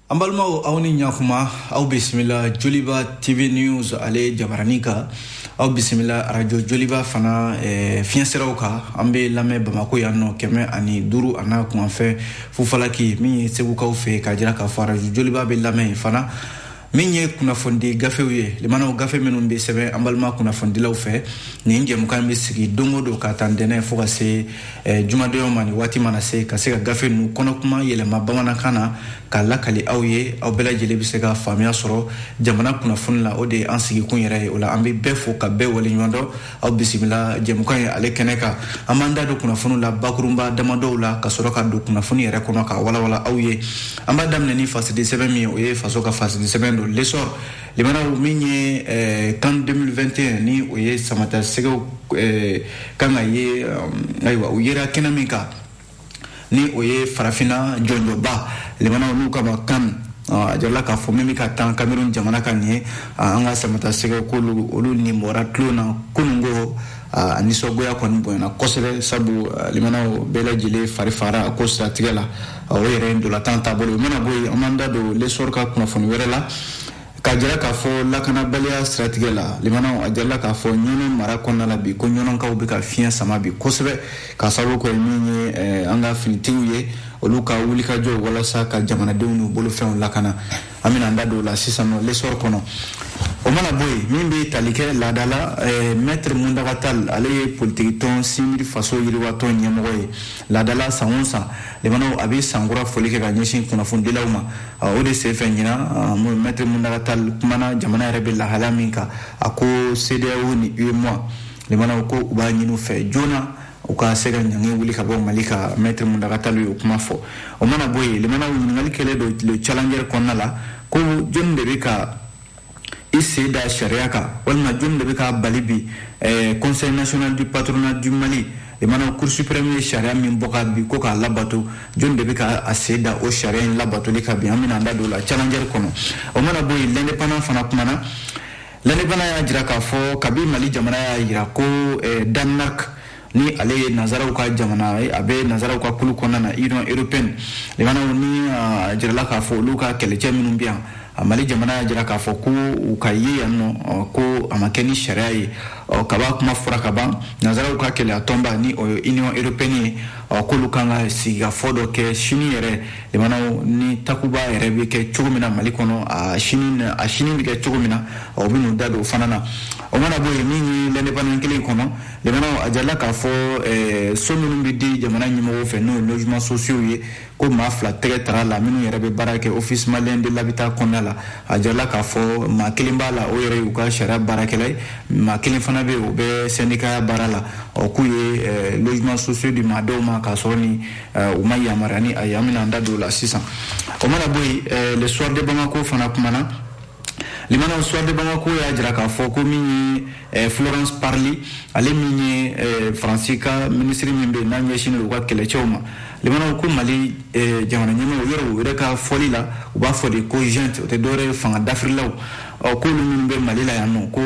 an balimaw aw ni ɲakuma aw bisimila joliba tv news ale jabaranin kan aw bisimila arajo joliba fana eh, fiɲɛ siraw kan an bɛ lamɛn bamako yan nɔ kɛmɛ ani duuru an'a kunkanfɛn fufalaki min ye segukaw fɛ k'a jira k'a fɔ arajo joliba bɛ lamɛn yen fana min ye kunnafonidi gafew ye lamɛnnaw gafe minnu bɛ sɛbɛn an balima kunnafonidilaw fɛ nin jɛmukan bɛ sigi don o don ka ta ntɛnɛn fo ka se eh, jumadonyaw ma nin waati mana se ka se ka gafe ninnu kɔnɔkuma yɛlɛma bamanankan na k'a lakali aw ye aw bɛɛ lajɛlen bɛ se ka faamuya sɔrɔ jamana kunnafoni la o de ye an sigikun yɛrɛ ye o la an bɛ bɛɛ fo ka bɛɛ waleɲumandɔn aw bisimila jɛmukan ye ale kɛnɛ kan an b'an da don kunnafoniw la bakurunba damadɔw la ka sɔrɔ ka don kunnafoni yɛrɛ kɔnɔ k'a walawala aw ye an b'a daminɛ ni fasidi sɛbɛn min o ye faso ka fasidi sɛbɛn don lesɔr lamɛnnaw min ye eh, can 2021 ni o ye samatasɛgɛw eh, kan ka ye eh, ayiwa u yera kɛnɛ min kan ni o ye farafina jɔnjɔnba lamɛnnaw n'u k'a ma can a jirala k'a fɔ min bɛ ka tan cameroun jamana kan nin ye an ka samatasɛgɛ k'olu olu nin bɔra tulon na kunun ko a nisɔngoya kɔni bonyana kosɛbɛ sabu lamɛnnaw bɛɛ lajɛlen fari faara ko siratigɛ la o yɛrɛ ye ntolatan taabolo ye o mana bɔ yen an b'an da don lesɔr ka kunnafoni wɛrɛ la k'a jira k'a fɔ lakanabaliya siratigɛ la lamɛnnaw a jirala k'a fɔ ɲɔnɔ mara kɔnɔna la bi ko ɲɔnɔkaw bɛ ka fiɲɛ sama bi kosɛbɛ ka sababu kɛ min ye eh, an ka finitigiw ye olu ka wulikajɔ walasa ka jamanadenw n'u bolofɛnw lakana an bɛna an da don o la sisan nɔ lesɔr kɔnɔ o mana bɔ yen min bɛ tali kɛ laada la eh, mɛtiri mountaga tall ale ye politikitɔn cnid faso yiriwatɔn ɲɛmɔgɔ ye laada la san o san lamɛnnaw a bɛ san kura foli kɛ ka ɲɛsin kunnafonidilaw ma o de senfɛ ɲinan mɛtiri mountaga tall kumana jamana yɛrɛ bɛ lahala min kan a ko cedeao ni uemoa lamɛnnaw ko u b'a ɲini u fɛ joona u ka se ka ɲangi wuli ka bɔ mali kan mɛtiri mountaga tall y'o kuma fɔ o mana bɔ yen lamɛnnaw ɲininkali kɛlen don le challenger kɔnɔna la ko jɔnni de bɛ ka i sen da sariya kan walima jɔni de bɛ k'a bali bi eh, conseil national du patronat du mali lamɛnnaw cour supreme ye sariya min bɔ ka bi ko k'a labato jɔni de bɛ ka a sen da o sariya in labatoli kan bi an bɛna an da don o la challenger kɔnɔ o mana bɔ yen l'indépendant fana kumana l'indépendant y'a jira k'a fɔ kabi mali jamana y'a jira ko eh, danemark ni ale ye nanzaraw ka jamana ye a bɛ nanzaraw ka kulu kɔnɔna na union européenne lamɛnnaw ni a jirala k'a fɔ olu ka kɛlɛcɛ minnu bɛ yan mali jamana y'a jira k'a fɔ ko u ka ye yan nɔ ko a ma kɛ ni sariya ye ɔ kaba kuma fɔra ka ban nanzaraw ka kelenya tɔnba ni o ye union européenne ye ɔ k'olu kan ka sigikafɔ dɔ kɛ sini yɛrɛ lamɛnnaw ni takuba yɛrɛ bɛ kɛ cogo min na mali kɔnɔ a sini a sini bɛ kɛ cogo min na ɔ u bɛ n'u da don o fana na o mana bɔ yen min ye l'indépendant kelen kɔnɔ lamɛnnaw a jirala k'a fɔ eh, so minnu bɛ di jamana ɲɛmɔgɔw fɛ n'o ye logements sociaux ye ko maa fila tɛgɛ tara la minnu yɛrɛ bɛ baara kɛ office malien de l'habitat kɔnɔna la a jirala k'a fɔ maa kelen b'a la o yɛrɛ y'u ka sariya baarakɛla ye maa kelen fana bɛ yen o bɛ sɛndikaya baara la ɔ k'u ye eh, logements sociaux di maa dɔw ma k'a sɔrɔ ni eh, u ma yamaruya ni a ye an bɛna an da don o la sisan o mana bɔ yen le soir de bamako fana kumana Lamɛnnaw soir de bamako y'a jira k'a fɔ ko min ye eh, florence parly ale min ye eh, faransi ka minisiri min bɛ n'a ɲɛsin u ka kɛlɛcɛw ma lamɛnnaw ko mali eh, jamana ɲɛmaaw yɔrɔ u yɛrɛ ka fɔli la u b'a fɔ de ko junte o tɛ dɔwɛrɛ ye fanga dafirilaw ɔ k'olu minnu bɛ mali la yan nɔ ko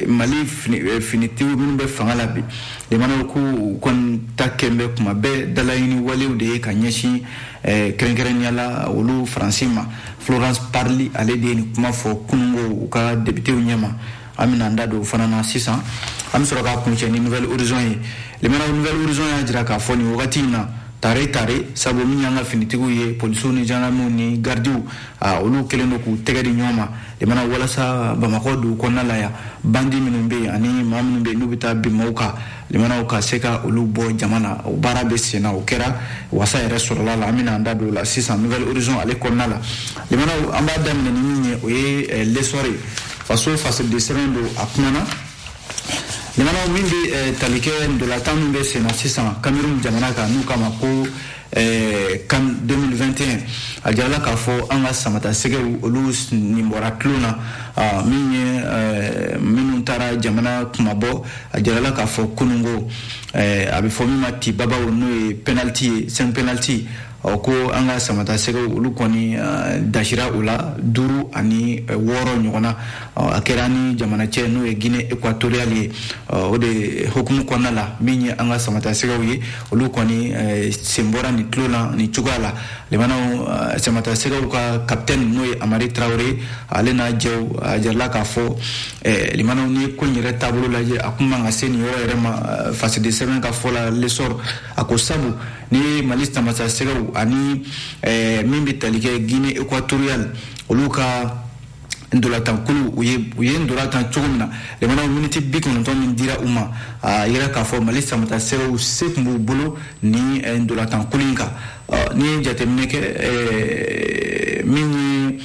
mali finitigiw minnu bɛ fanga la bi lamɛnnaw ko u kɔni ta kɛlen bɛɛ kuma bɛɛ dalaɲini walew de ye ka ɲɛsin Eh, kɛrɛnkɛrɛnya la olu faransi ma florence parly ale de ye nin kuma fɔ kunungo u ka depitew ɲɛma an bɛna an da don o fana na sisan an bɛ sɔrɔ k'a kuncɛ ni nouvel horizon ye lamɛnnaw nouvel horizon y'a jira k'a fɔ nin wagati in na tare tare sabu min y'an ka finitigiw ye polisiw ni jandarmew ni gardiw olu kɛlen don k'u tɛgɛ di ɲɔgɔn ma lamɛnnaw walasa bamakɔ dugu kɔnɔna la yan bandi minnu bɛ yen ani maa minnu bɛ yen n'u bɛ taa bin mɔgɔw kan lamɛnnaw ka se ka olu bɔ jama na o baara bɛ sen na o kɛra wasa yɛrɛ sɔrɔla la an bɛna an da don o la sisan nouvel horizon ale kɔnɔna la lamɛnnaw an b'a daminɛ ni min ye o ye eh, l'essor ye faso fasoden sɛbɛn don a kumana lamɛnnaw min bɛ eh, tali kɛ ntolatan min bɛ sen na sisan kamerun jamana kan n'u k'a ma ko eh, can 2021 a jirala k'a fɔ an ka samatasɛgɛw olu nin bɔra tulon na ah, min ye eh, minnu taara jamana kunmabɔ a jirala k'a fɔ kununko eh, a bɛ fɔ min ma tibabaw n'o ye penaliti ye cinq penaliti ɔ ko an ka samatasɛgɛw olu kɔni eh, dasira o la duuru ani eh, wɔɔrɔ ɲɔgɔn na a kɛra ni jamana cɛ n'o ye guinée équatoriale ye o de hukumu kɔnɔna la min ye an ka samatasɛgɛw ye olu kɔni eh, sen bɔra nin tulon na nin cogoya la lamɛnnaw eh, samatasɛgɛw ka kapitɛni n'o ye hamari tarawele ale n'a jɛw a jirala k'a fɔ eh, lamɛnnaw ni ko in yɛrɛ taabolo lajɛ a kun man ka se nin yɔrɔ yɛrɛ ma fasoden sɛbɛn ka fɔ la l'essor a ko sabu ni mali samatasɛgɛw ani min bɛ tali kɛ guinée équatoriale olu ka ntolatankulu u ye u ye ntolatan cogo min na lamɛnnaw miniti bi kɔnɔntɔn min dira u ma a yɛrɛ k'a fɔ mali samatasɛgɛw se kun b'u bolo ni eh, ntolatankulu in kan n'i ye jateminɛ kɛ eh, min ye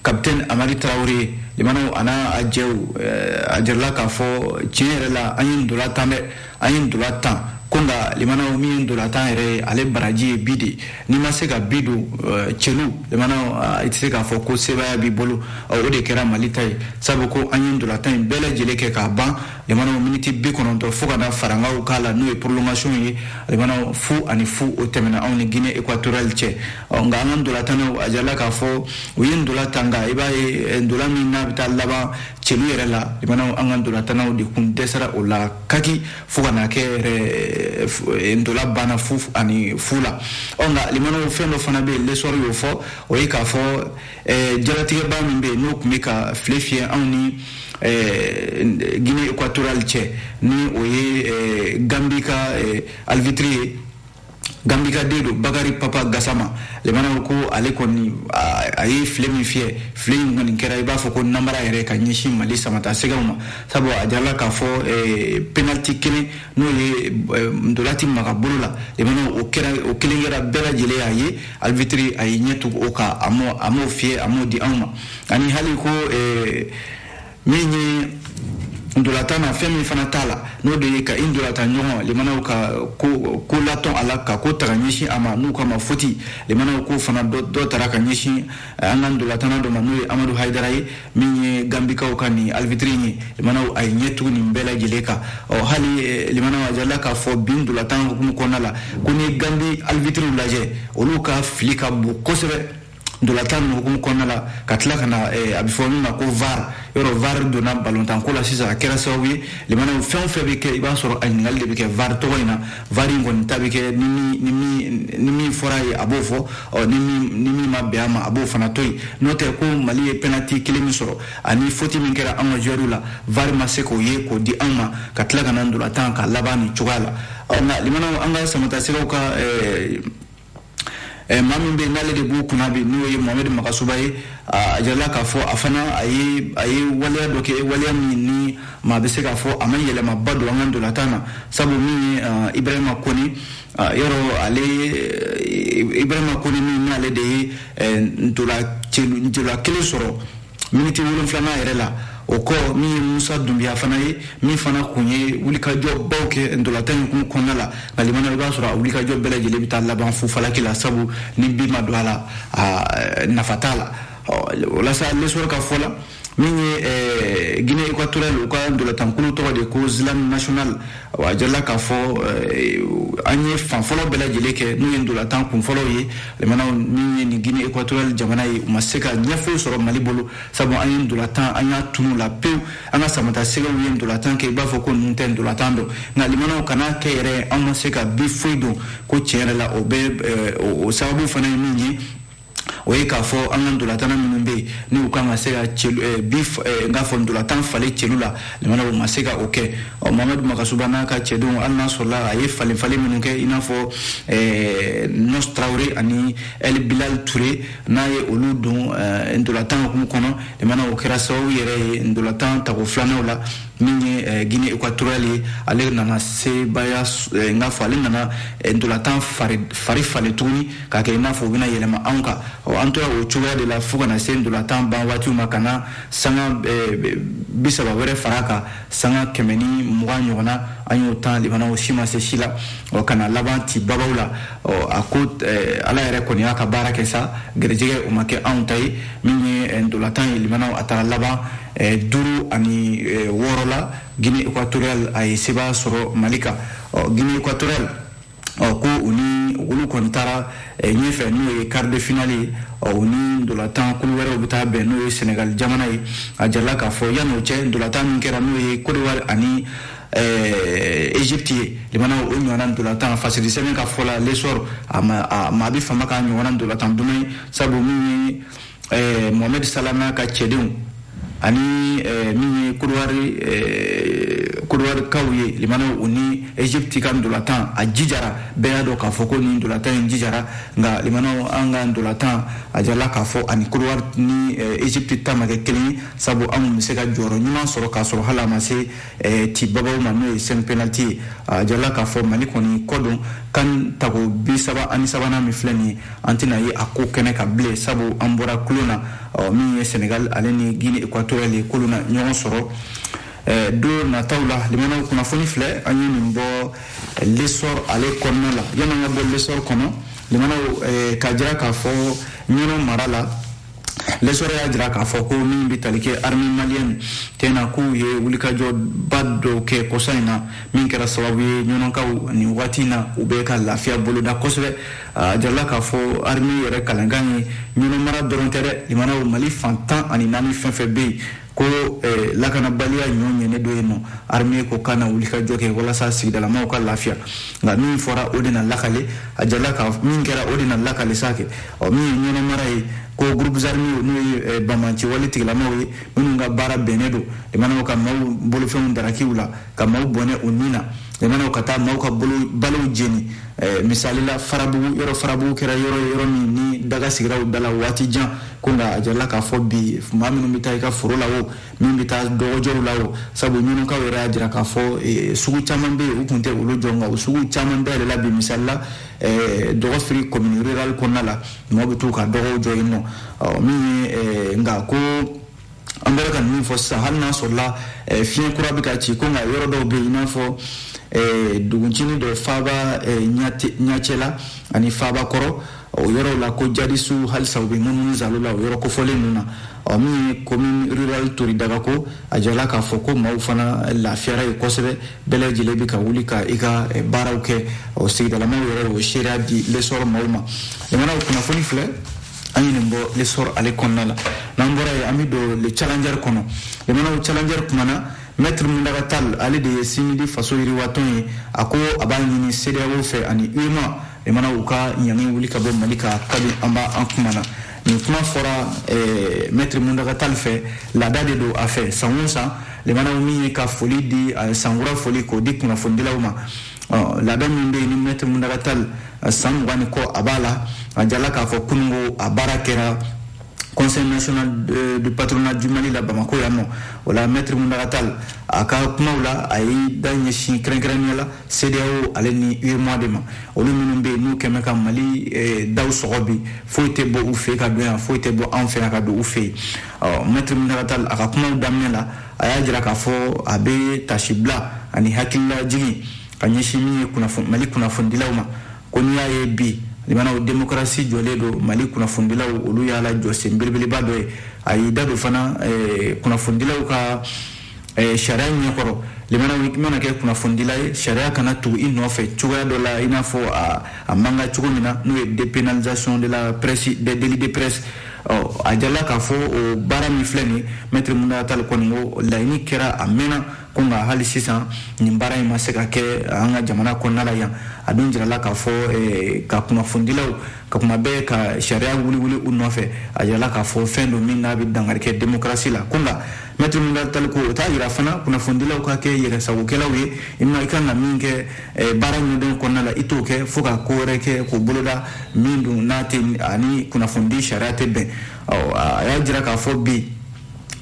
kapitɛni hamari tarawele ye lamɛnnaw an'a jɛw eh, a jirala k'a fɔ tiɲɛ yɛrɛ la an ye ntolatan dɛ an ye ntola tan ko nka limanaw min ye ntola tan yɛrɛ ye ale baraji ye bi de n'i ma se ka bi don eh, celu limanaw ah, i tɛ se k'a fɔ ko sebaaya b'i bolo ah, o de kɛra mali ta ye sabu ko an ye ntola tan in bɛɛ lajɛlen kɛ k'a ban limanaw miniti bi kɔnɔntɔn fo ka na farankaw k'a la n'o ye prolongation ye limanaw fu ani fu o tɛmɛna anw ni guinée équatoriale cɛ ɔ, nka an ka ntola tannaw a jirala k'a fɔ u ye ntola tan nka i b'a ye eh, ntola min n'a bɛ taa laban celu yɛrɛ la limanaw an ka ntolatannaw de kun dɛsɛra o la kaki fo ka na kɛ yɛrɛ eh, ntola banna fu ani fu la ɔ nka limanaw fɛn dɔ fana bɛ yen l'essor y'o fɔ o ye k'a fɔ eh, jalatigɛba min bɛ yen n'o tun bɛ ka file fiyɛ anw ni eh, guinée équatoriale cɛ ni o ye gambie ka arbitre ye gambie ka den don bakari papa gasama limanaw ko ale kɔni a ye file min fiyɛ file in kɔni kɛra i b'a fɔ ko namara yɛrɛ ka ɲɛsin mali samatasɛgɛw ma sabu a jirala k'a fɔ eh, penalty kelen n'o ye eh, ntolati maga bolo la limanaw o kɛra o kelen kɛra bɛɛ lajɛlen y'a ye arbitre a ye ɲɛ tugu o kan a m'o fiyɛ a m'o di anw ma ani hali ko eh, min ye ntolatan na fɛn min fana t'a la n'o de ye ka i ntolatan ɲɔgɔn limanaw ka ko ko latɔn a la ka ko ta ka ɲɛsin a ma n'u k'a ma faute limanaw ko fana dɔ tara ka ɲɛsin eh, an ka ntolatanna dɔ ma n'o ye amadu hayidara ye min ye gambikaw ka nin arbitre ye limanaw a ye ɲɛ tugu nin bɛɛ lajɛlen kan ɔ hali eh, limanaw a jirala k'a fɔ bi ntolatan hukumu kɔnɔna la ko n'i ye gambie arbitrew lajɛ olu ka fili ka bon kosɛbɛ ntolatan in hukumu kɔnɔna la ka tila ka na eh, a bɛ fɔ min ma ko var yɔrɔ var donna balɔntanko la sisan a kɛra sababu ye limanaw fɛn o fɛn bɛ kɛ i b'a sɔrɔ a ɲininkali de bɛ kɛ var tɔgɔ in na var in kɔni ta bɛ kɛ ni min fɔra ye a b'o fɔ ɔ ni min ma bɛn a ma a b'o fana to yen n'o tɛ ko mali ye penalty kelen min sɔrɔ ani faute min kɛra an ka joueurs la var ma se k'o ye k'o di anw ma ka tila ka na ntolatan ka laban nin cogoya la ɔ nka limanaw an ka samatasɛgɛw ka eh, maa min bɛ n'ale de b'u kunna bi n'o ye mohamed magasuba ye a jirala k'a fɔ a fana a ye waleya dɔ kɛ waleya min ni maa bɛ se k'a fɔ a ma yɛlɛmaba don an ka ntolatan na sabu min ye ibrahima kɔnɛ yɔrɔ ale ibrahima kɔnɛ min n'ale de ye ntola kelen sɔrɔ miniti wolonfilanan yɛrɛ la o kɔ min ye musa dunbiya fana ye min fana kun ye wulikajɔbaw kɛ ntolatan in hukumu kɔnɔna la nka limanaw i b'a sɔrɔ a wulikajɔ bɛɛ lajɛlen bɛ taa laban fu falaki la sabu ni bi ma don a la a nafa t'a la o la sa l'essor ka fɔ la min ye guinee équatoriale u ka ntolatankulu tɔgɔ de ko nzalang national A jirala k'a fɔ eh, an ye fan fɔlɔ bɛɛ lajɛlen kɛ n'u ye ndolatan kun fɔlɔw ye limanaw min ye nin guinée équatoriale jamana ye u ma se ka ɲɛ foyi sɔrɔ mali bolo sabu an ye ndolatan an y'a tunun u la pewu an ka samatasɛgɛw ye ndolatan kɛ i b'a fɔ ko ninnu tɛ ndolatan dɔn nka limanaw ka na kɛ yɛrɛ an ma se ka bi foyi don ko tiɲɛ yɛrɛ la o bɛ eh, o sababu fana ye min ye o ye k'a fɔ an ka ntolatana minnu bɛ yen n'u kan ka se ka celu eh, bi eh, n k'a fɔ ntolatan falen celu la limana o ma se ka o kɛ ɔ mohamɛd magasuba n'a ka cɛdenw hali n'a sɔrɔla a ye falen falen minnu kɛ i n'a fɔ eh, nɔs traoré ani ɛli bilal ture n'a ye olu don ntolatan hukumu kɔnɔ limana o kɛra sababu yɛrɛ ye ntolatan tako filanan na min ye eh, guinée équatoriale ye ale nana sebaaya eh, n k'a fɔ ale nana eh, ntolatan fari falen tuguni k'a kɛ i n'a fɔ u bɛna yɛlɛma anw kan ɔ an tora o cogoya de la fo ka na se ndolatan ban waatiw ma ka na sanga eh, bi saba wɛrɛ fara kan sanga kɛmɛ ni mugan ɲɔgɔnna an y'o tan limana o si ma se si la ɔ ka na laban ti babaw la ɔ a ko eh, ala yɛrɛ kɔni y'a ka baara kɛ sa garijɛgɛ o ma kɛ anw ta ye min ye eh, ndolatan ye limanaw a taara laban duuru ani wɔɔrɔ la guinee équatoriale a ye seba sɔrɔ mali kan ɔ guinee équatoriale ɔ ko u ni olu kɔni taara ɲɛfɛ n'o ye quart de finale ye ɔ u ni ndolatan kulu wɛrɛw bɛ taa bɛn n'o ye senegal jamana ye a jirala k'a fɔ yan'o cɛ ndolatan min kɛra n'o ye kodowari ani egypte ye limana o ɲɔgɔnna ndolatan fasirisɛbɛn ka fɔ la lesɔr maa bɛ fama k'a ɲɔgɔnna ndolatan duman ye sabu min ye ɛɛ mohamɛd sala n'a ka cɛdenw ani eh, min ye kodowari eh, kodowari-kaw ye limanaw u ni egypte ka ndolatan a jijara bɛɛ y'a dɔn k'a fɔ ko nin ndolatan in jijara nka limanaw an ka ndolatan a jirala k'a fɔ ani kodowari ni eh, egypte ta ma kɛ kelen ye sabu anw bɛ se ka jɔyɔrɔ ɲuman sɔrɔ k'a sɔrɔ hali an ma se eh, ti babaw ma n'o ye cinq penaliti ye a jirala k'a fɔ mali kɔni kɔ don can tako bi saba ani sabanan min filɛ nin ye an tɛna ye a ko kɛnɛ kan bilen sabu an bɔra kulon na ɔ min ye senegal ale ni guinée équatoriale ye k'olu na ɲɔgɔn sɔrɔ eh, don nataw la limanaw kunnafoni filɛ an ye nin bɔ eh, lesɔr ale kɔnɔna la yan'an ka bɔ lesɔr kɔnɔ limanaw eh, k'a jira k'a fɔ ɲɔnɔ mara la lesɔrɔ y'a jira k'a fɔ ko min bɛ tali kɛ armée malienne tɛna k'u ye wulikajɔba dɔw kɛ kɔsa in na min kɛra sababu ye ɲɔnɔnkaw nin waati in na u bɛ ka lafiya boloda kosɛbɛ a jirala k'a fɔ armée yɛrɛ kalenkan ye ɲɔnɔnmara dɔrɔn tɛ dɛ limanaw mali fan tan ani naani fɛn fɛn bɛ yen ko eh, lakanabaliya ɲɔ ɲɛnen don yen nɔ armée ko ka na wulikajɔ kɛ walasa sigidalamaw ka lafiya nka min fɔra o de na lakale a jirala ka min kɛra o de na lakale sa kɛ ɔ min ye ɲɔnɔnmara ye ko groupes armés n'o ye eh, banbaanciwale tigilamaw ye minnu ka baara bɛnnen don limanaw ka maaw bolofɛnw daraki u la ka maaw bɔnɛ u ni na limanaw ka taa maaw ka balow jeni eh, misalila farabugu yɔrɔ farabugu kɛra yɔrɔ yɔrɔ min ni daga sigira u da la waati jan ko nka a jirala k'a fɔ bi maa minnu bɛ taa i ka foro la o min bɛ taa dɔgɔjɔw la o sabu ɲɔnɔkaw yɛrɛ y'a jira k'a fɔ eh, sugu caman bɛ yen u tun tɛ olu jɔ nka o sugu caman dayɛlɛla bi misalila eh, dɔgɔfiri commune rurale kɔnɔna la maaw bɛ t'u ka dɔgɔw jɔ yen nɔ min ye nka ko an bɔra ka min fɔ sisan hali n'a sɔrɔla eh, fiɲɛ kura bɛ ka ci ko nka yɔrɔ dɔw bɛ yen i n'a fɔ eh, duguncini dɔ faba eh, ɲɛcɛ la ani faba kɔrɔ o yɔrɔw la ko jadisiw halisa u bɛ munumunu zalo la o yɔrɔ kofɔlen ninnu na ɔ min ye commune rurale toridaga ko a jirala k'a fɔ ko maaw fana lafiyara ye kosɛbɛ bɛɛ lajɛlen bɛ ka wuli ka i ka baaraw kɛ ɔ sigidalamaw yɛrɛ y'o seereya di l'essor maaw ma limanaw kunnafoni filɛ an ye nin bɔ l'essor ale kɔnɔna la n'an bɔra yen an bɛ don le challenger kɔnɔ limanaw challenger kumana mɛtiri mundaga tal ale de ye sinidi faso yiriwatɔn ye a ko a b'a ɲini cedeao fɛ ani uemoa limana u ka ɲangi wuli ka bɔ mali kan kabi an b'a an kumana nin kuma fɔra eh, mɛtiri mundaga tal fɛ laada de don a fɛ san o san limanaw min ye ka foli di eh, sankura foli k'o di kunnafonidilaw ma ɔ laada min bɛ yen ni mɛtiri mundaga tal san mugan ni kɔ a b'a la a jirala k'a fɔ kununko a baara kɛra conseil national du patronat du mali la bamako yan nɔ o la mɛtiri mundaga tal a ka kumaw la a y'i da ɲɛsin kɛrɛnkɛrɛnnenya la cedeao ale ni uemoa de ma olu minnu bɛ yen n'u kɛlen bɛ ka mali eh, daw sɔgɔ bi foyi tɛ bɔ u fɛ ka don yan foyi tɛ bɔ an fɛ yan ka don u fɛ yen mɛtiri mundaga tal a ka kumaw daminɛ la a y'a jira k'a fɔ a bɛ taasibila ani hakililajigin ka ɲɛsin min ye mali kunnafonidilaw ma ko n'i y'a ye bi limanaw demokarasi jɔlen don mali kunnafonidilaw olu y'a la jɔsen belebeleba dɔ ye a y'i da don fana eh, kunnafonidilaw ka eh, sariya ɲɛkɔrɔ limanaw i mana kɛ kunnafonidila ye sariya kana tugu i nɔfɛ cogoya dɔ la i n'a fɔ a man kan cogo min na n'o ye dépénalisation de la presse des délits de presse a jirala k'a fɔ o baara min filɛ nin mɛtiri mundaga tal kɔni ko laɲini in kɛra a mɛnna ko nka hali sisan nin baara in ma se ka kɛ an ka jamana kɔnɔna la yan a dun jirala k'a fɔ eh, ka kunnafonidilaw ka kuma bɛɛ ka sariya wuli wuli u nɔfɛ a jirala k'a fɔ fɛn don min n'a bɛ dankari kɛ demokarasi la ko nka mɛtiri mundaga tal ko o t'a jira fana kunnafonidilaw ka kɛ yɛrɛsagokɛlaw ye i ma i ka kan ka min kɛ Eh, baara ɲɛdɔn kɔnɔna la i t'o kɛ fo ka ko wɛrɛ kɛ k'o boloda min dun n'a tɛ a ni kunnafonidi sariya tɛ bɛn a y'a jira k'a fɔ bi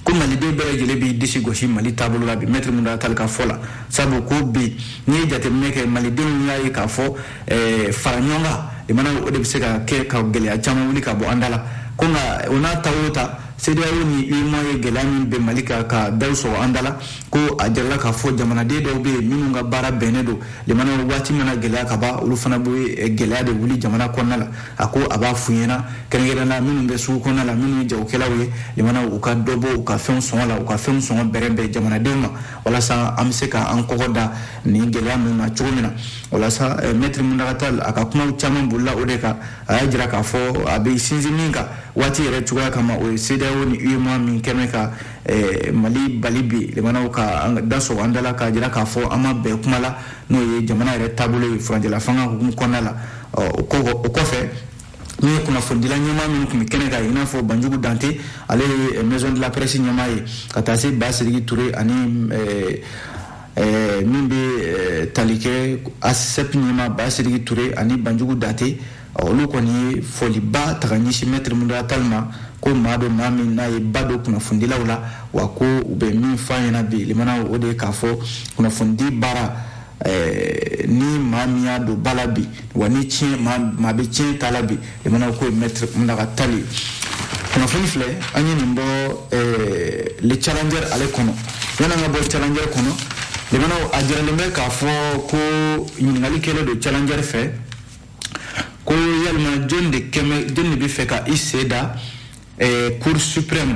ko maliden bɛɛ lajɛlen b'i disi gosi mali taabolo la bi mɛtiri mundaga tal ka fɔ la sabu ko bi n'i ye jateminɛ kɛ malidenw y'a ye k'a fɔ eh, fara ɲɔgɔn kan i mana o de bɛ se ka kɛ ka gɛlɛya caman wuli ka bɔ an da la ko nka o n'a ta o ta CEDEAO ni UEMOA ye gɛlɛya min bin Mali kan ka daw sɔgɔ an da la ko a jirala k'a fɔ jamanaden dɔw bɛ yen minnu ka baara bɛnnen don limana waati mana gɛlɛya ka ban olu fana bɛ eh, gɛlɛya de wuli jamana kɔnɔna la a ko a b'a f'u ɲɛna kɛrɛnkɛrɛnnenya minnu bɛ sugu kɔnɔna la minnu ye jagokɛlaw ye limana u ka dɔ bɔ u ka fɛnw sɔngɔ la u ka fɛnw sɔngɔ bɛrɛbɛn jamanadenw ma walasa an bɛ se ka an kɔgɔ da nin gɛlɛya ninnu na cogo min na walasa eh, mɛtiri muntaga tali a ka kumaw caman bolila o de kan a y'a jira k'a fɔ a bɛ sinsin min kan waati yɛrɛ cogoya kama o ye sedeyawo ni uemoa min kɛlen bɛ ka Eh, mali bali bi jamanaw ka da sɔgɔ an da la k'a jira k'a fɔ an ma bɛn kuma la n'o ye jamana yɛrɛ taabolo ye furancɛla fanga hukumu kɔnɔna la o kɔfɛ min ye kunnafonidila ɲɛmaa minnu tun bɛ kɛnɛ kan i n'a fɔ banjugu dante ale ye eh, maison de la presse ɲɛmaa ye ka taa se basidiki ture ani eh, min bɛ tali kɛ asep ɲɛmaa basidiki ture ani banjugu dante olu kɔni ye foliba ta ka ɲɛsin mɛtiri muntaga tali ma ko maa don maa min n'a ye ba don kunnafonidilaw la wa ko u bɛ min fɔ a ɲɛna bi limana o de ye k'a fɔ kunnafonidi baara eh, ni maa min y'a don ba la bi wa ni tiɲɛ maa bɛ tiɲɛ ta la bi limana k'o ye mɛtiri muntaga tali ye kunnafoni filɛ an ye nin bɔ eh, le challenger ale kɔnɔ yann'an ka bɔ challenger kɔnɔ limana a jiralen bɛ k'a fɔ ko ɲininkali kɛlen don challenger fɛ ko yalima jɔni de kɛlen bɛ jɔni de bɛ fɛ ka i sen da eh, cour suprême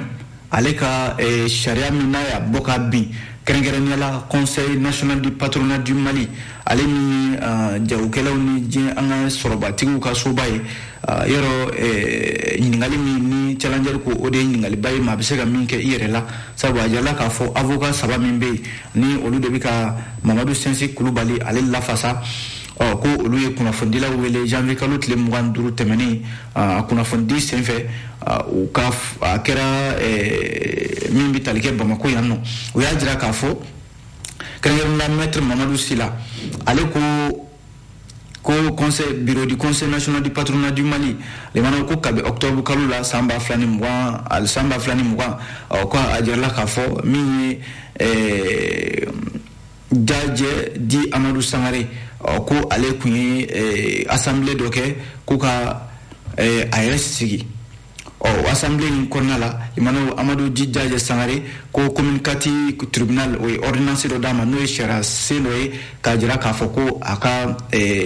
ale ka eh, sariya min n'a y'a bɔ kan bi kɛrɛnkɛrɛnnenya la conseil national du patronat du mali ale ni uh, jagokɛlaw ni diɲɛ an ka sɔrɔbatigiw ka soba ye uh, yɔrɔ eh, ɲininkali min ni challenger ko o de ye ɲininkaliba ye maa bɛ se ka min kɛ i yɛrɛ la sabu a jirala k'a fɔ avocat saba min bɛ yen ni olu de bɛ ka mamadu sinsi kulubali ale lafasa ɔ ko olu ye kunnafonidilaw wele janvier kalo tile mugan duuru tɛmɛnen a kunnafonidi senfɛ u ka a kɛra min bɛ tali kɛ bamako yan nɔ u y'a jira k'a fɔ kɛrɛnkɛrɛnnenya mɛtiri mamadu sila ale ko ko conseil bureau du conseil national du patronat du mali limana ko kabi octobre kalo la san ba fila ni mugan ali san ba fila ni mugan ɔ ko a jirala k'a fɔ min ye Jajɛ dit amadu sankare ko ale kun ye assemblée dɔ kɛ ko ka a yɛrɛ sigi ɔ assemblée in kɔnɔna la limana amadu dit jajɛ sankare ko commune quatre tribunal o ye ordonnance dɔ d'a ma n'o ye sariya sen dɔ ye k'a jira k'a fɔ ko a ka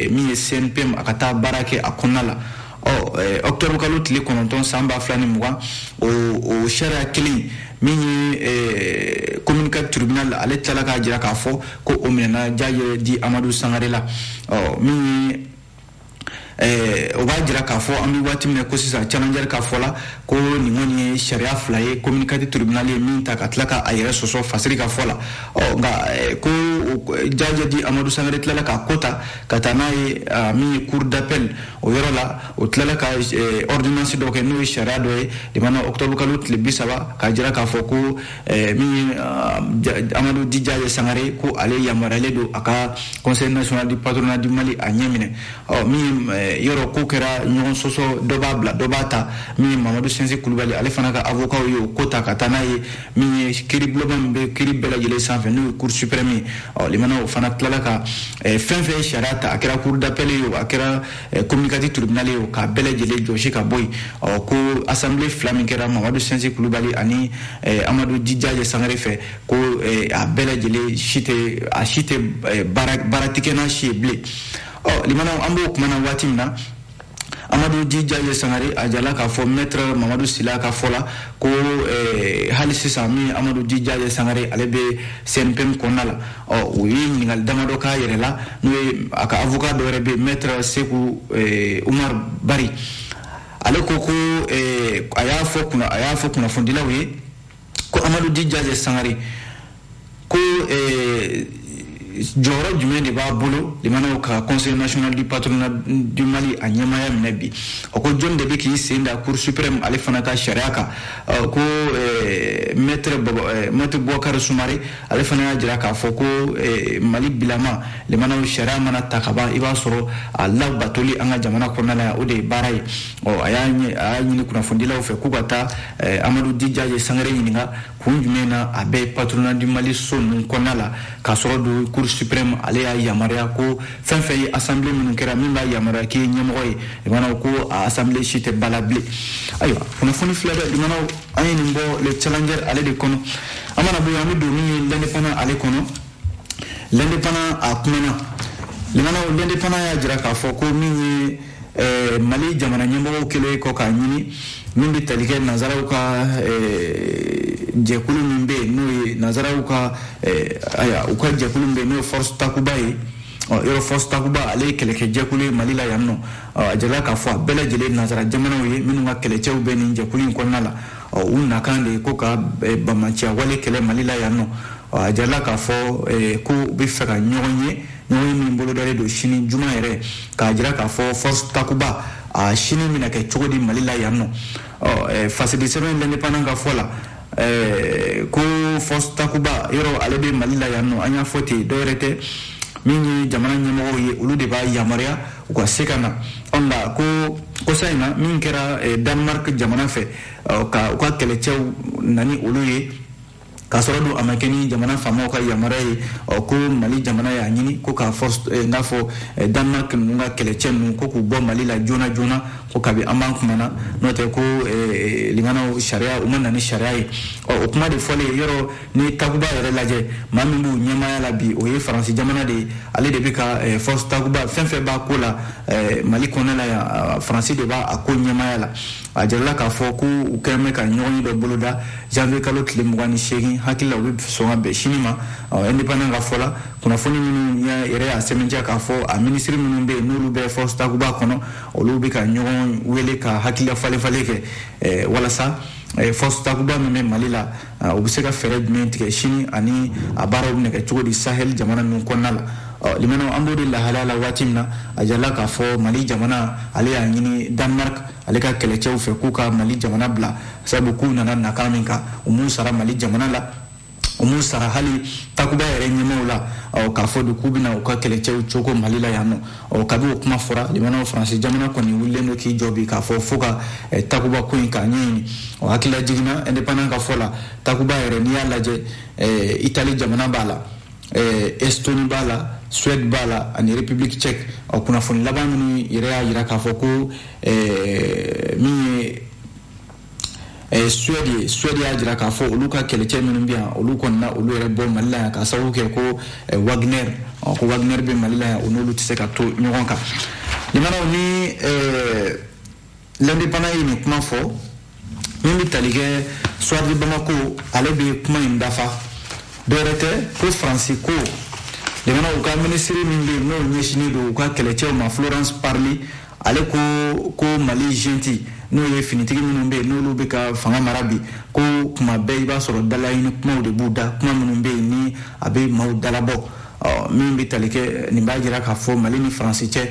min ye cnpm a ka taa baara kɛ a kɔnɔna la ɔktɔbu kalo tile kɔnɔntɔn san ba fila ni mugan o sariya kelen min ye commune quatre tribunal ale tilala k'a jira k'a fɔ ko o minɛna jajɛ di amadu sangare la min Eh, o b'a jira k'a fɔ an bɛ waati min na ko sisan challenger ka fɔ la ko nin kɔni ye sariya fila ye commune quatre tribunal ye min ta ka tila ka a yɛrɛ sɔsɔ fasiri ka fɔ la ɔ nka eh, ko jajɛ di amadu sangare tilala k'a ko ta ka taa n'a ye min ye cour d'appel o yɔrɔ la o tilala ka eh, ordonnance dɔ kɛ n'o ye sariya dɔ ye limana octobre kalo tile bi saba k'a jira k'a fɔ ko eh, min ye amadu di jajɛ sangare ko ale yamaruyalen don a ka conseil national du patronat du mali a ɲɛ minɛ ɔ min ye eh, yɔrɔ ko kɛra ɲɔgɔn sɔsɔ dɔ b'a bila dɔ b'a ta min ye mamadu sɛnsi kulubali ale fana ka avocat ye o ko ta ka taa n'a ye min ye kiiri bulonba min bɛ kiiri bɛɛ lajɛlen sanfɛ n'o ye cour suprême ye ɔ limana o fana tilala ka eh, fɛn fɛn ye sariya ta a kɛra cour d'appel ye o a kɛra eh, commune quatre tribunal ye o k'a bɛɛ lajɛlen jɔsi ka bɔ yen ɔ ko assemblée fila min kɛra mamadu sɛnsi kulubali ani eh, amadu di jajɛ sangare fɛ ko a bɛɛ lajɛlen si tɛ a si tɛ baara tɛ kɛ n'a si ye bilen ɔ limanaw an b'o kuma na waati min na amadu di jajɛ sangare a jirala k'a fɔ maître mamadu sila ka fɔ la ko eh, hali sisan min amadu di jajɛ sangare ale bɛ cnpm kɔnɔna la ɔ o ye ɲininkali damadɔ k'a yɛrɛ la n'o ye a ka avocat dɔ yɛrɛ bɛ maître seku eh, umar bari ale ko ko eh, a y'a fɔ a y'a fɔ kunnafonidilaw ye ko amadu di jajɛ sangare ko eh, jɔyɔrɔ jumɛn de b'a bolo limanaw ka conseil national du patronat du mali a ɲɛmaaya minɛ bi o ko jɔni de bɛ k'i sen da cour suprême ale fana ka sariya kan ko eh, maître eh, maître bɔkari sumare ale fana y'a jira k'a fɔ ko eh, mali bilama limanaw sariya mana ta ka ban i b'a sɔrɔ a labatoli an ka jamana kɔnɔna la yan o de ye baara ye ɔ a y'a ɲini kunnafonidilaw fɛ k'u ka taa Eh, amadu di jajɛ sangare ɲininka kun jumɛn na a bɛ patronat du mali so ninnu kɔnɔna la k'a sɔrɔ dun cour suprême ale y'a yamaruya ko fɛn fɛn ye assemblée minnu kɛra min b'a yamaruya k'i ye ɲɛmɔgɔ ye limanaw ko a assemblée si tɛ bala bilen ayiwa kunnafoni filɛ dɛ limanaw an ye nin bɔ le challenger ale de kɔnɔ an mana bɔ yen an bɛ don min ye l'indépendant ale kɔnɔ l'indépendant a kumana limanaw l'indépendant y'a jira k'a fɔ ko min ye eh, mali jamana ɲɛmɔgɔw kɛlen kɔ k'a ɲini min bɛ tali kɛ nazaraw ka eh, jɛkulu min bɛ yen n'o ye nazaraw ka eh, aya u ka jɛkulu min bɛ yen n'o ye force takuba ye ɔ yɔrɔ force takuba ale ye kɛlɛkɛ jɛkulu ye mali la yan ɔ a jirala k'a fɔ a bɛɛ lajɛlen nazara jamanaw ye minnu ka kɛlɛcɛw bɛ nin jɛkulu in kɔnɔna la ɔ u nakan de ye ko ka eh, banbaanciya wale kɛlɛ mali la yan nɔ a jirala k'a fɔ eh, ko u bɛ fɛ ka ɲɔgɔn ye ɲɔgɔnye min bolodalen don sini juma yɛrɛ k'a jira k'a fɔ force takuba a sini bɛna kɛ cogo di mali la yan nɔ ɔ eh, fasidi sɛbɛn l'indépendant ka fɔ la eh, ko force takuba yɔrɔ ale bɛ mali la yan nɔ an y'a fɔ ten dɔwɛrɛ tɛ min ye jamana ɲɛmɔgɔw ye olu de b'a yamaruya u ka se ka na nka ko kosa in na min kɛra eh, danemark jamana fɛ ka u ka kɛlɛcɛw nani olu ye k'a sɔrɔ dun a ma kɛ ni jamana faamaw ka yamaruya ye ko mali jamana y'a ɲini ko k'a fɔ eh, n'a fɔ eh, danemark ninnu ka kɛlɛcɛ ninnu ko k'u bɔ mali la joona joona ko kabi an b'an kuma na n'o tɛ ko limanaw sariya u ma na ni sariya ye o kuma de fɔlen yɔrɔ n'i ye takuba yɛrɛ lajɛ maa min b'u ɲɛmaya la bi o ye faransi jamana de ye ale de bɛ ka eh, force takuba fɛn fɛn b'a ko la eh, mali kɔnɔna la yan faransi de b'a a ko ɲɛmaya la a jirala k'a fɔ ko u kɛlen bɛ ka ɲɔgɔnye dɔ boloda janvier kalo tile mugan ni seegin hakili la u bɛ sɔn ka bɛn sini ma indépendant ka fɔ la kunnafoni minnu yɛrɛ y'a sɛbɛntiya k'a fɔ a minisiri minnu bɛ yen n'olu bɛ force takuba kɔnɔ olu bɛ ka ɲɔgɔn wele ka hakilila falen falen kɛ eh, walasa force takuba min bɛ mali la Ah, u bɛ se ka fɛɛrɛ jumɛn tigɛ sini ani a baaraw bɛna kɛ cogo di sahel jamana ninnu kɔnɔna la ah, limanaw an b'o de lahalaya la waati min na a jirala k'a fɔ mali jamana ale y'a ɲini danemark ale ka kɛlɛcɛw fɛ k'u ka mali jamana bila sabu k'u nana nakan min kan u m'u sara mali jamana la u m'u sara hali takuba yɛrɛ ɲɛmaaw la ah, k'a fɔ de k'u bɛna u ka kɛlɛcɛw cogo mali la yan nɔ ɔ kabi o kuma fɔra limanaw faransi jamana kɔni wulilen don k'i jɔ bi k'a fɔ fo ka eh, takuba ko in k'a ɲɛɲini o hakililajigin na indépendant ka fɔ la takuba yɛrɛ n'i y'a lajɛ eh, itali jamana b'a la eh, estoni b'a la suède b'a la ani république tchèque ɔ kunnafoni laban minnu yɛrɛ y'a yira k'a fɔ ko min ye Eh, suède suède y'a jira k'a fɔ olu ka kɛlɛcɛ minnu bɛ yan olu kɔni na olu yɛrɛ bɔ mali la yan k'a sababu kɛ ko eh, wagner ko wagner bɛ mali la yan o n'olu tɛ se ka to ɲɔgɔn kan limanaw ni eh, l'indépendant ye nin kuma fɔ min bɛ tali kɛ soir de bamako ale bɛ kuma in dafa dɔwɛrɛ tɛ ko faransi ko jamanaw ka minisiri min bɛ yen n'o ɲɛsinnen don u ka kɛlɛcɛw ma florence parly ale ko ko mali junte n'o ye finitigi minnu bɛ yen n'olu bɛ ka fanga mara bi ko kuma bɛɛ i b'a sɔrɔ dalaɲini kumaw de b'u da kuma minnu bɛ yen ni a bɛ maaw dalabɔ min bɛ tali kɛ nin b'a jira k'a fɔ mali ni faransi cɛ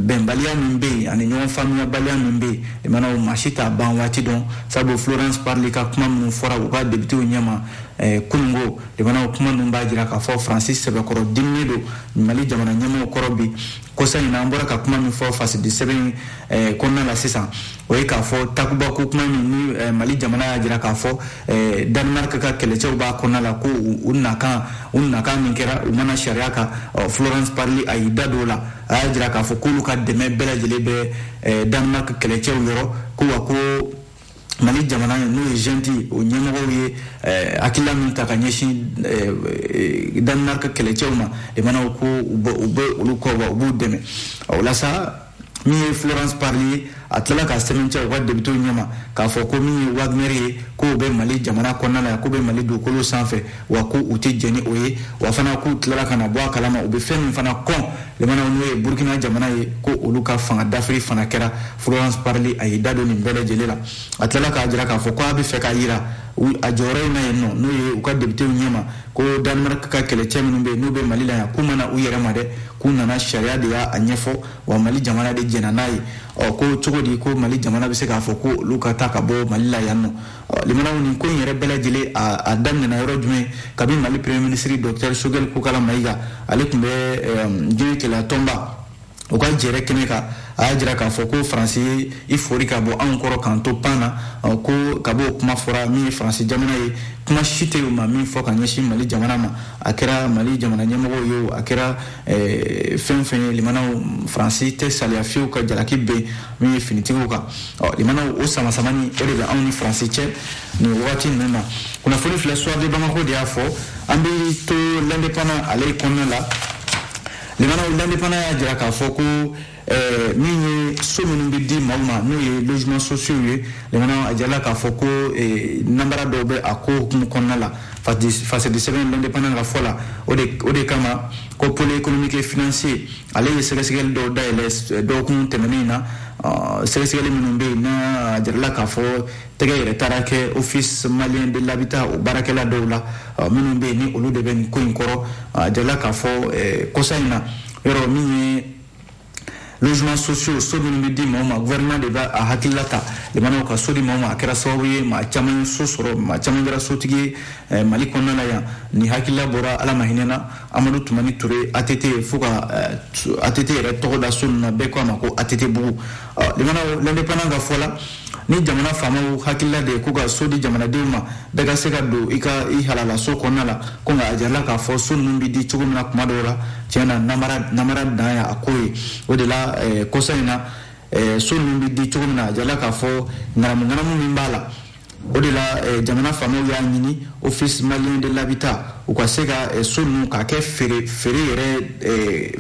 bɛnbaliya min bɛ yen ani ɲɔgɔn faamuyabaliya min bɛ yen limanaw maa si t'a ban waati dɔn sabu florence parly ka kuma minnu fɔra u ka depitew ɲɛma Eh, kununko limanaw kuma ninnu b'a jira k'a fɔ faransi sɛbɛkɔrɔ diminen don mali jamana ɲɛmɔgɔw kɔrɔ bi kɔsa in na an bɔra ka kuma min fɔ fasidi sɛbɛn eh, kɔnɔna la sisan o ye k'a fɔ takuba ko kuma min ni eh, mali jamana y'a jira k'a fɔ eh, danemark ka kɛlɛcɛw b'a kɔnɔna la ko u nakan u nakan min kɛra u ma na sariya kan florence parly a y'i da don o la a y'a jira k'a fɔ k'olu ka dɛmɛ bɛɛ lajɛlen bɛ danemark kɛlɛcɛw yɔrɔ ko wa ko mali jamana n'o ye junte o ɲɛmɔgɔw ye eh, hakilila min ta ka ɲɛsin eh, eh, danemark kɛlɛcɛw ma limanaw ko u bɛ olu kɔ wa u b'u dɛmɛ o la sa min ye florence parly ye a tilala k'a sɛmɛntiya u ka depitew ɲɛma k'a fɔ ko min ye wagner ye k'o bɛ mali jamana kɔnɔna la yan k'o bɛ mali dugukolo sanfɛ wa ko u tɛ jɛn ni o ye wa fana k'u tilala ka na bɔ a kalama u bɛ fɛn min fana kɔn limanaw n'o ye burkina jamana ye ko olu ka fanga dafiri fana kɛra florence parly a y'i da don nin bɛɛ lajɛlen la a tilala k'a jira k'a fɔ ko a bɛ fɛ k'a yira a jɔyɔrɔ in na yen nɔ n'o ye u ka depitew ɲɛma ko danemark ka kɛlɛcɛ minnu bɛ yen n'u bɛ mali la yan k'u ma na u yɛrɛ ma dɛ k'u nana sariya de y'a ɲɛfɔ wa mali jamana de jɛnna n'a ye ɔ ko cogo di ko mali jamana bɛ se k'a fɔ ko olu ka taa ka bɔ mali la yan nɔ limanaw nin ko in yɛrɛ bɛɛ lajɛlen a daminɛna yɔrɔ jumɛn kabi mali premier ministre docteur choguel kokalla maïga ale tun bɛ diɲɛ kelenya tɔnba u ka jɛrɛ kɛnɛ kan a y'a jira k'a fɔ ko faransi ye i fori ka bɔ anw kɔrɔ k'an to pan na ko kab'o kuma fɔra min ye faransi jamana ye kuma si tɛ u ma min fɔ ka ɲɛsin mali jamana ma a kɛra mali jamana ɲɛmɔgɔw ye o a kɛra fɛn o fɛn ye limanaw faransi tɛ salaya fiyewu ka jalaki bin min ye finitigiw kan ɔ limanaw o samasamani o de bɛ anw ni faransi cɛ nin wagati ninnu na kunnafoni filɛ soir de bamako de y'a fɔ an bɛ to l'indépendant ale kɔnɔna la limanaw l'indépendant y'a jira k'a fɔ ko eh, min ye so minnu bɛ di maaw ma n'o ye logements sociaux ye limanaw a jirala k'a fɔ ko eh, nanbara dɔw bɛ a ko hukumu kɔnɔna la fasidi sɛbɛn l'indépendant ka fɔ la o de kama ko pôle économique et financier ale ye sɛgɛsɛgɛli dɔw dayɛlɛ eh, dɔgɔkun tɛmɛnen na ah, sɛgɛsɛgɛli minnu bɛ yen n'a jirala k'a fɔ tɛgɛ yɛrɛ taara kɛ office malien de l'habitat o baarakɛla dɔw la ah, minnu bɛ yen ni olu de bɛ nin ko in kɔrɔ a ah, jirala k'a fɔ eh, kɔsa in na yɔrɔ min ye logements sociaux so minnu bɛ di maaw ma gouvernement de b'a a hakilila ta limanaw ka so di maaw ma a kɛra sababu ye maa caman ye so sɔrɔ maa caman kɛra sotigi ye eh, mali kɔnɔna la yan nin hakilila bɔra ala ma hinɛna amadu tumani ture ATT fo ka ATT eh, yɛrɛ tɔgɔ da so ninnu na bɛɛ ko a ma ko ATT bugu limanaw l'indépendant ka fɔ la ni jamana faamaw hakilila de ye ko ka so di jamanadenw ma bɛɛ ka se ka don i ka i halala so kɔnɔna la ko nka a jirala k'a fɔ so ninnu bɛ di cogo min na kuma dɔw la tiɲɛ na namara namara dan y'a ko ye o de la eh, kɔsa in na eh, so ninnu bɛ di cogo min na a jirala k'a fɔ ŋanamu ŋanamu min b'a la o de la eh, jamana faamaw y'a ɲini office malien de l'habitat u ka se ka eh, so ninnu k'a kɛ feere feere yɛrɛ eh,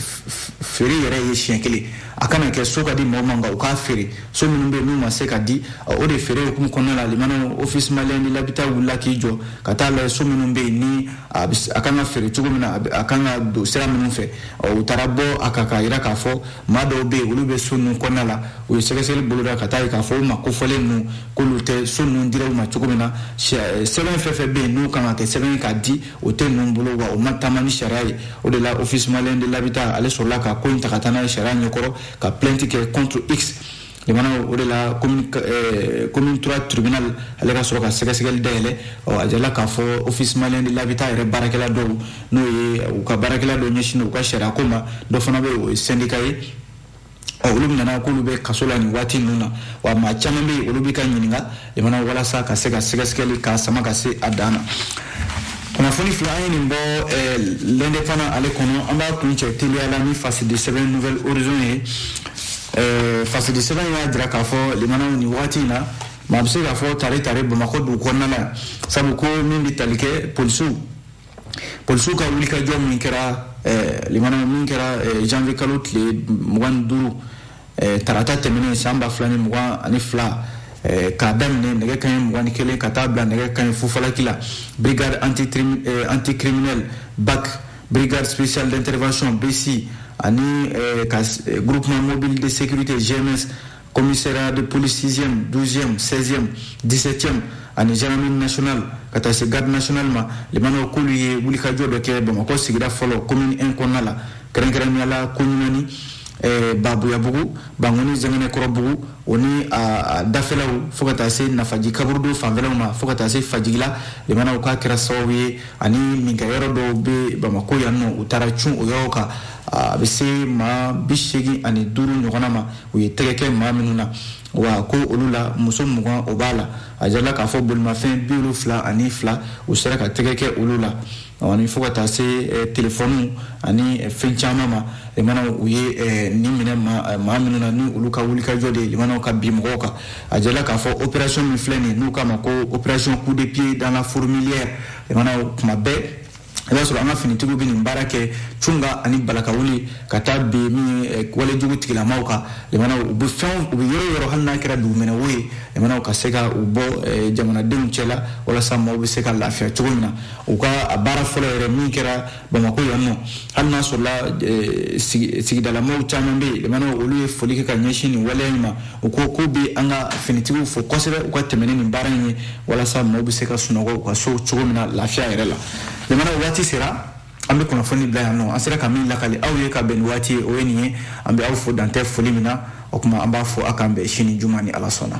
feere yɛrɛ ye siɲɛ kelen a kana kɛ so ka di mɔgɔ ma nka u k'a feere so minnu bɛ yen n'u ma se ka di o de feere hukumu kɔnɔna la limanaw office malien de l'habitat wulila k'i jɔ ka taa lajɛ so minnu bɛ yen ni a kan ka feere cogo min na a kan ka don sira minnu fɛ u taara bɔ a kan k'a jira k'a fɔ maa dɔw bɛ yen olu bɛ so ninnu kɔnɔna la u ye sɛgɛsɛgɛli boloda ka taa ye k'a fɔ o maa kofɔlen ninnu k'olu tɛ so ninnu dira u ma cogo min na eh, sɛbɛn fɛn fɛn bɛ yen n'u kan ka kɛ sɛbɛn k'a di o tɛ ninnu bolo wa o ma taama ni sariya ye o de la office malien de l'habitat ale sɔrɔla ka ko in ta ka taa n'a ye sariya ɲɛkɔrɔ ka plainte kɛ contre x limanaw o de la commune 3 tribunal ale ka sɔrɔ ka sɛgɛsɛgɛli dayɛlɛ a jirala k'a fɔ office malien de l'habitat yɛrɛ baarakɛla dɔw n'o ye u ka baarakɛla dɔ ɲɛsinnen u ka sariya ko ma dɔ fana bɛ o ye syndicat ye olu minɛna k'olu bɛ kaso la nin waati ninnu na wa maa caman bɛ yen olu bɛ ka ɲininka limanaw walasa ka se ka sɛgɛsɛgɛli k'a sama ka se a dan na kunnafoni fila an ye nin bɔ eh, l'indépendant ale kɔnɔ an b'a kuncɛ teliya la ni fasidi sɛbɛn nouvel horizon ye eh, fasidi sɛbɛn y'a jira k'a fɔ limanaw nin wagati in na maa bɛ se k'a fɔ tare tare bamakɔ dugu kɔnɔna la sabu ko min bɛ tali kɛ polisiw polisiw ka wulikajɔ min kɛra eh, limanaw min kɛra eh, janvier kalo tile mugan ni duuru eh, tarata tɛmɛnen san ba fila ni mugan ani fila k'a daminɛ nɛgɛ kaɲɛ mugan ni kelen ka taa bila nɛgɛ kaɲɛ fufalaki la brigade anticriminel bac brigade spéciale d'intervention bsi ani groupement mobile de sécurité gms Commissariat de police 6e, 12e, 16e, 17e ani gendarmerie nationale ka taa se garde nationale ma limanaw k'olu ye wulikajɔ dɔ kɛ bamakɔ sigida fɔlɔ commune 1 kɔnɔna la kɛrɛnkɛrɛnnenya la koɲumani eh, babuyabugu bankoni zɛkɛnɛkɔrɔbugu o ni a dafɛlaw fo ka taa se nafaji kaburudo fanfɛlaw ma fo ka taa se fajigila limanaw k'a kɛra sababu ye ani minkɛyɔrɔ dɔw bɛ bamakɔ yan nɔ u taara cun o yɔrɔw kan a bɛ se maa bi seegin ani duuru ɲɔgɔnna ma u ye tɛgɛ kɛ maa minnu na wa ko olu la muso mugan o b'a la a jirala k'a fɔ bolimafɛn bi wolonfila ani fila u sera ka tɛgɛ kɛ olu la ani fo ka taa se eh, telefɔniw ani eh, fɛn caman ma limanaw u ye eh, nin minɛ maa minnu na ni olu ka wulikajɔ de ye limanaw ka bin mɔgɔw kan a jirala k'a fɔ opération min filɛ nin n'u k'a ma ko opération coup de pied dans la fourmilière limanaw kuma bɛɛ i b'a sɔrɔ an ka finitigiw bɛ nin baara kɛ cunga ani balakawuli ka taa bin min ye eh, walejugu tigilamaw kan limanaw u bɛ fɛnw u bɛ yɔrɔ o yɔrɔ hali n'a kɛra dugumɛnɛwo ye limanaw ka se ka u bɔ eh, jamanadenw cɛ la walasa maaw bɛ se ka lafiya cogo min na u ka a baara fɔlɔ yɛrɛ min kɛra bamakɔ yan nɔ hali n'a sɔrɔla eh, sigidalamaw caman bɛ yen limanaw olu ye foli kɛ ka ɲɛsin nin waleya in ma u ko k'u bɛ an ka finitigiw fo kosɛbɛ u ka tɛmɛ ni nin baara in ye walasa maaw bɛ se ka sunɔgɔ u ka so cogo min na lafiya yɛrɛ la lamɛnnaw waati sera an bɛ kunnafoni bila yan nɔ an sera ka min lakali aw ye ka bɛn ni waati ye o ye nin ye an bɛ aw fo dantɛ foli min na o tuma an b'a fɔ a k'an bɛn sini juma ni ala sɔnna